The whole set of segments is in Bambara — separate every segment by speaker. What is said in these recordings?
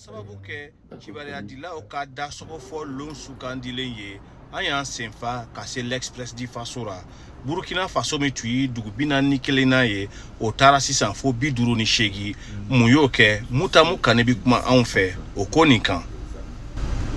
Speaker 1: sababu kɛ kibaruya dilaw ka dasɔgɔ fɔ lon sugandilen ye an y'an sen fa ka se l'express du faso ra burukina faso min tun ye dugu bi naani ni kelennan ye o taara sisan fo bi duuru ni seegin mun y'o kɛ mutamu kane bɛ kuma anw fɛ o ko nin kan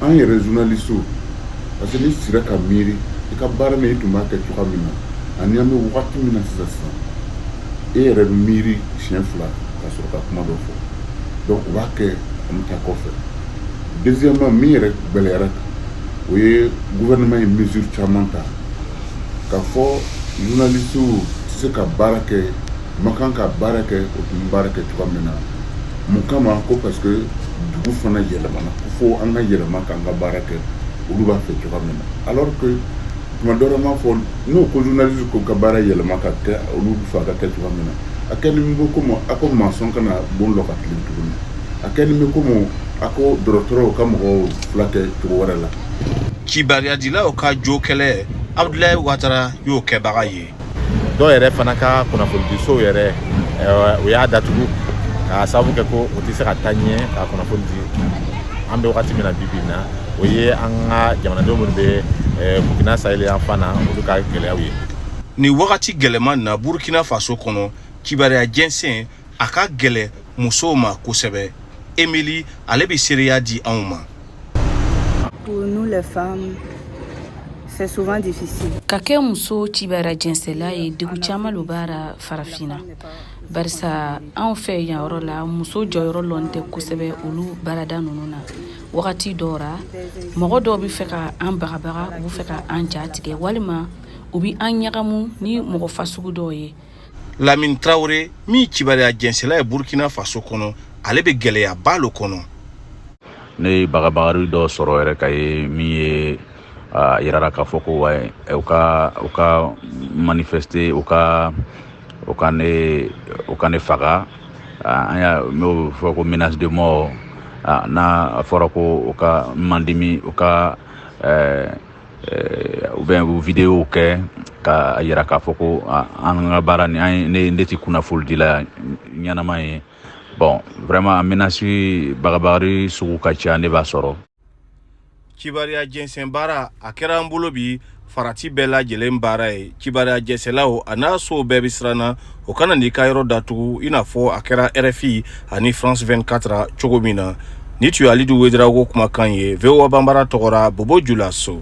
Speaker 1: an
Speaker 2: yɛrɛ journalistew parce que n'i sira ka miiri i ka baara na i tun b'a kɛ cogoya min na ani an bɛ wagati min na sisan sisan e yɛrɛ bɛ miiri siɲɛ fila ka sɔrɔ ka kuma dɔ fɔ donc o b'a kɛ an bɛ taa kɔfɛ deuxièmement min yɛrɛ gɛlɛyara o ye gouvernement ye mesure caman ta K'a fɔ journalistes tɛ se ka baara kɛ, u man kan ka baara kɛ, u tun bɛ baara kɛ cogoya min na, mun kama ko parce que dugu fana yɛlɛmana ko fo an ka yɛlɛma k'an ka baara kɛ olu b'a fɛ cogoya min na alors que tuma dɔ la n b'a fɔ n'u ko journaliste k'u ka baara yɛlɛma ka kɛ olu bɛ fɛ a ka kɛ cogoya min na, a kɛlen bɛ comme a ko maçon kana bon lɔ ka tilen tuguni, a kɛlen bɛ comme a ko dɔgɔtɔrɔw ka mɔgɔw furakɛ cogo wɛrɛ la
Speaker 1: Kibaruyadilaw ka jo kɛlɛ Abudulayi Watara y'o kɛbaga ye. Dɔw yɛrɛ fana
Speaker 3: ka kunnafonidisow yɛrɛ u y'a datugu k'a sababu kɛ ko u tɛ se ka taa ɲɛ ka kunnafoni di an bɛ wagati min na bi bi in na o ye an ka jamanadenw minnu bɛ Burkina Sahel yan fan na olu ka gɛlɛyaw ye. Nin wagati
Speaker 1: gɛlɛman in na Burkina Faso kɔnɔ kibaruya jɛnsɛn a ka gɛlɛ musow ma kosɛbɛ emili ale bɛ seereya di anw
Speaker 4: ma pour nous les femmes c'est souvent difficile ka kɛ muso
Speaker 5: kibaruya jɛnsɛnla ye degun caman lo b'a ra farafina barisa anw fɛ yan yɔrɔ la muso jɔyɔrɔ lɔn tɛ kosɛbɛ olu baarada nunu na wagati dɔw ra mɔgɔ dɔw be fɛ ka an bagabaga u be fɛ ka an ja tigɛ walima u be an ɲagamu ni mɔgɔ fasugu dɔw ye lamini
Speaker 1: tarawele min kibaruya jɛnsɛnla ye burkina faso kɔnɔ ale bɛ gɛlɛyaba lo kɔnɔ ne
Speaker 6: ye bagabagari dɔ sɔrɔ yɛrɛ ka ye min ye a yirara k'a fɔ ko wa u ka u ka manifester u ka u ka ne u ka ne faga an y'a n'o fɔ ko menace de mort n'a fɔra ko u ka n mandimi u ka eh, u bɛ u videow kɛ k'a yira k'a fɔ ko an ka baara ni an ne ne tɛ kunnafolidila ɲɛnama ye bon vraiment menace bagabagari sugu ka ca ne b'a
Speaker 1: sɔrɔ kibaruya jɛnsɛn baara a kɛra an bolo bi farati bɛɛ lajɛlen baara ye kibaruya jɛnsɛnlaw an'a sow bɛɛ bɛ siranna o kana n'i ka yɔrɔ datugu i n'a fɔ a kɛra rfi ani france 24 cogo min na ni tun ye alidu wedirago kumakan ye voa banbara tɔgɔra bobo julaso